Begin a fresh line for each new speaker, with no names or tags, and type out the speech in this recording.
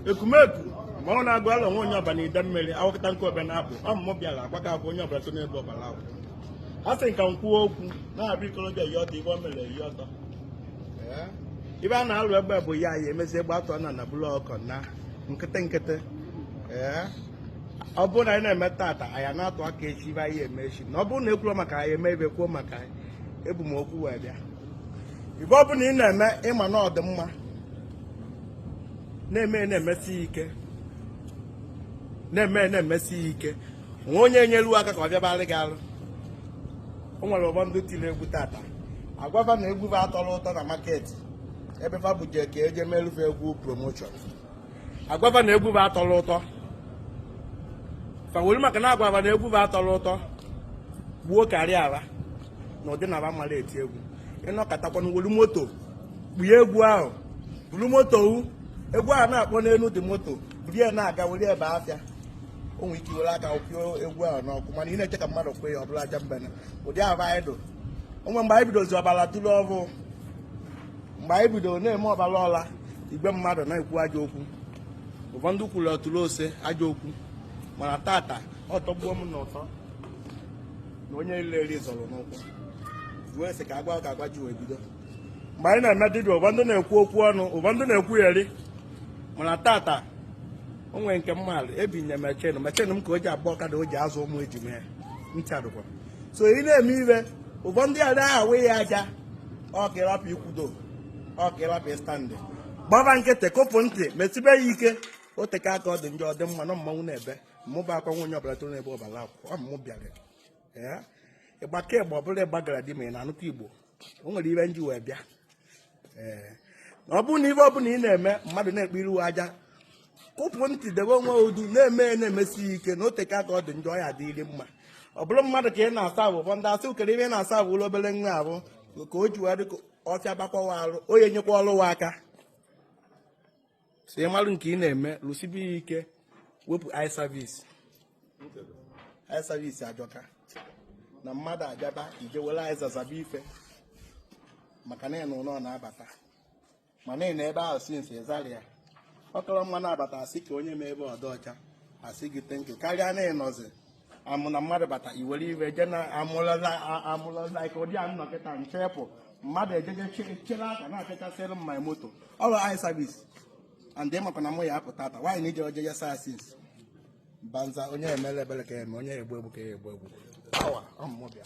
ekumeku ma ọ na-agụ ala nwa onye Ọba na Idemmiri awakọta nke ọbịa na-apụ ọ mụ mụ bịara agbaka abụ onye ọbụla so n'ebe ọbara ahụ a sị ka m kwuo okwu na-abụ ikolobịa yi ọtọ ibe o mere eyi ọtọ ibe a na-alụ egbe bụ ya ya emezie egbe atọ na na bụlụ ọkọ na nkịtị nkịtị ọ bụrụ na anyị na-eme tata anyị na-atụ aka echi ibe anyị eme echi na ọ bụrụ na ekwuo maka anyị eme ibe kwuo maka anyị ebu m okwu wee bịa ibe ọ bụla ị na-eme ị ma na ọ dị mma na-eme na-emesi ya ike na-eme na-emesi ya ike nwe onye nyelu aka ka ọ fịabalị gị alụ o nwere ụfọdụ tiri egwu tata agwa va na egwu va atọrọ ụtọ na market ebe fa buje ka eje meru fa egwu promotion agwa va na egwu va atọrọ ụtọ fa welu maka na agwa va na egwu va atọrọ ụtọ gbuo karịa ala na ọdịnala mara eti egwu ị nọkatakwa na welu moto kpuye egwu ahụ buru moto egwu ahụ na-akpọ n'elu dị moto buru ya na-aga were ebe afịa o nwere ike iwere aka kwụọ egwu ahụ n'ọkụ mana ị na-eche ka mmadụ kwee ya ọ bụla aja mbene ụdị ahụ anyị dụ onwe mgbe anyị bidozi ọbara tụrụ ọhụụ mgbe anyị bidoro na-eme ọbara ọla igwe mmadụ na-ekwu ajọ okwu ụfọdụ kwuru ọtụrụ ose ajọ okwu mana tata ọ tọgbuo m n'ụtọ na onye e leri zọrọ n'ụkwụ wee sị ka agwa ka agwa ji wee bido mgbe anyị na-eme dibịa ụfọdụ na-ekwu okwu ọnụ ụfọdụ na-ekwu eri mana tata o nwere nke mmadụ ebinye machine ka o ji agba ọkada o ji azụ ụmụ ejima ncha dụkwa so ị na-eme ibe ụfọdụ adị awụ ya aja ọ ka ịrapụ ikwudo ọ ka ịrapụ ịstand gbaba nkịtị kupụ ntị mesibe ya ike o teka aka ọ dị njọ ọ dị mma na mmanwụ na-ebe mụba akwa nwa onye ọbụla toro n'ebe ọbara akwụ ọ mụ bịara ịgbake ịgba ọbụla ịgbagara di ma ị na-anụkọ igbo o nwere ibe m ji wee bịa ee ọ bụrụ na ibe ọbụla ị na-eme mmadụ na-ekpe iru aja kupụ ntị debe onwe duu na-eme ya na-emesi ya ike na o teka aka ọ dị njọ ya adịrị mma ọ bụrụ mmadụ ka ị na-aserve ụfọdụ asị o kere ibe ị na-aservelụ obere nwa afụ ka o ji wee dị ka ọ fịabakwa wa arụ onye nyekwarụ wa aka so ị marụ nke ị na-eme rụsibe ya ike wepụ eye service eye service ajọka na mmadụ abịaba i je were azịza zaba ife maka na onye nwe ụlọ na-abata mana ị nọ ebe ahụ since ị zarọ ya ọ kara mma na abata asị ka onye mee ebe ọ dị ọcha asị gị thank you karịa na ị nọzi amụ na mmadụ bata iwere iwe je na amụlọla ike ụdị a ị nọkata nchepụ mmadụ ejeje chere aka na-achachasịrị m my moto ọrụ eye service and ị makwa na mụ ya apụta ata nwaanyị na ije oje ya saa since banza onye emere ebere ka eme onye egbu egbu ka egbu egbu pawa ọ mụ mụ bịa